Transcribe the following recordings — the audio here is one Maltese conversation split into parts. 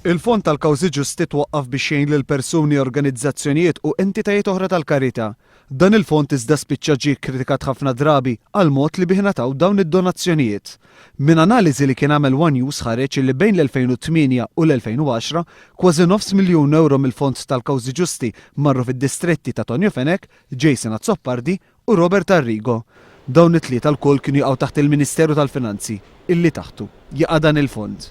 Il-Fond tal-Kawżi Ġusti twaqqaf biex jgħin lil persuni, organizzazzjonijiet u entitajiet oħra tal-karità. Dan il-fond iżda spiċċa ġie kkritikat ħafna drabi għall-mod li bih ngħataw dawn id-donazzjonijiet. Minn analiżi li kien għamel one News ħareġ li bejn l-2008 u l-2010, kważi nofs miljun ewro mill-Fond tal-Kawżi Ġusti marru fid-distretti ta' Tonio Fenech, Jason Azzopardi, u Robert Arrigo. Dawn it-tlieta lkoll kienu jaqgħu taħt il-Ministeru tal-Finanzi, illi taħtu jaqa' dan il-fond.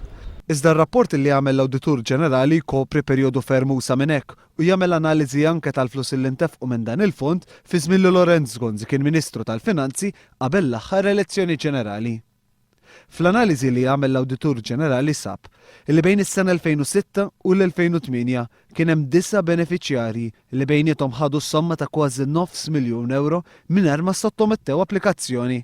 Iżda r-rapport li għamel l-Awditur Ġenerali jkopri perjodu ferm usa' minn hekk u jagħmel analiżi anke tal-flussi li ntefqu minn dan il-fond fi żmien li Lorenz Gonzi kien Ministru tal-Finanzi qabel l-aħħar elezzjoni ġenerali. Fl-analiżi li għamel l-Awditur Ġenerali sab li bejn is-sena 2006 u l-2008 kien hemm disa' benefiċjarji li bejniethom ħadu somma ta' kważi nofs miljun ewro mingħajr ma ssottomettew applikazzjoni.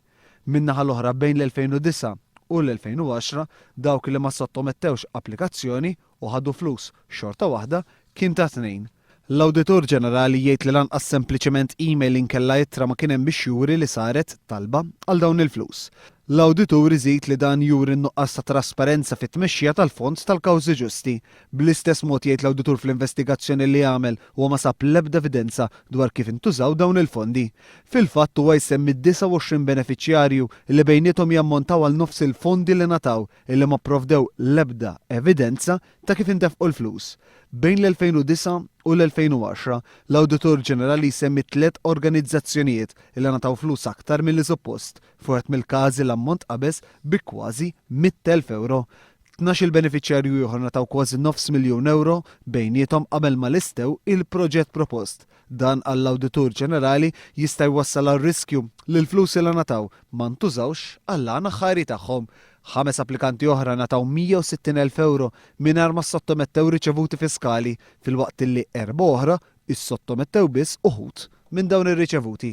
Min-naħa l-oħra bejn l-2009 u l-2010 dawk li ma ssottomettewx applikazzjoni u ħadu flus, xorta waħda kien ta' tnejn. L-Awditur Ġenerali jgħid li lanqas sempliċement email inkella ittra ma kien hemm biex juri li saret talba għal dawn il-flus. L-Awditur iżid li dan juri n-nuqqas ta' trasparenza fit-tmexxija tal-Fond tal-Kawżi Ġusti. Bl-istess mod jgħid l-Awditur fl-investigazzjoni li għamel huwa ma sab l-ebda evidenza dwar kif intużaw dawn il-fondi. Fil-fatt huwa jsemmi 29 benefiċjarju li bejniethom jammontaw għal nofs il-fondi li ngħataw. illi ma pprovdew l-ebda evidenza ta' kif intefqu l-flus. Bejn l-2009 u l-2010, l-Awditur Ġenerali jsemmi tliet organizzazzjonijiet illi ngħataw flus aktar milli suppost. F'wieħed mill-każi l-ammont tqabeż bi kważi 100,000 ewro. Tnax-il benefiċjarju ieħor ngħataw kważi nofs miljun ewro bejniethom qabel ma lestew il-proġett propost. Dan għall-Awditur Ġenerali jista' jwassal għal riskju li l-flus li ngħataw ma ntużawx għall-għan aħħari tagħhom. Ħames applikanti oħra ngħataw 160 elf ewro mingħajr ma ssottomettew riċevuti fiskali filwaqt li erbgħa oħra ssottomettew biss uħud minn dawn ir-riċevuti.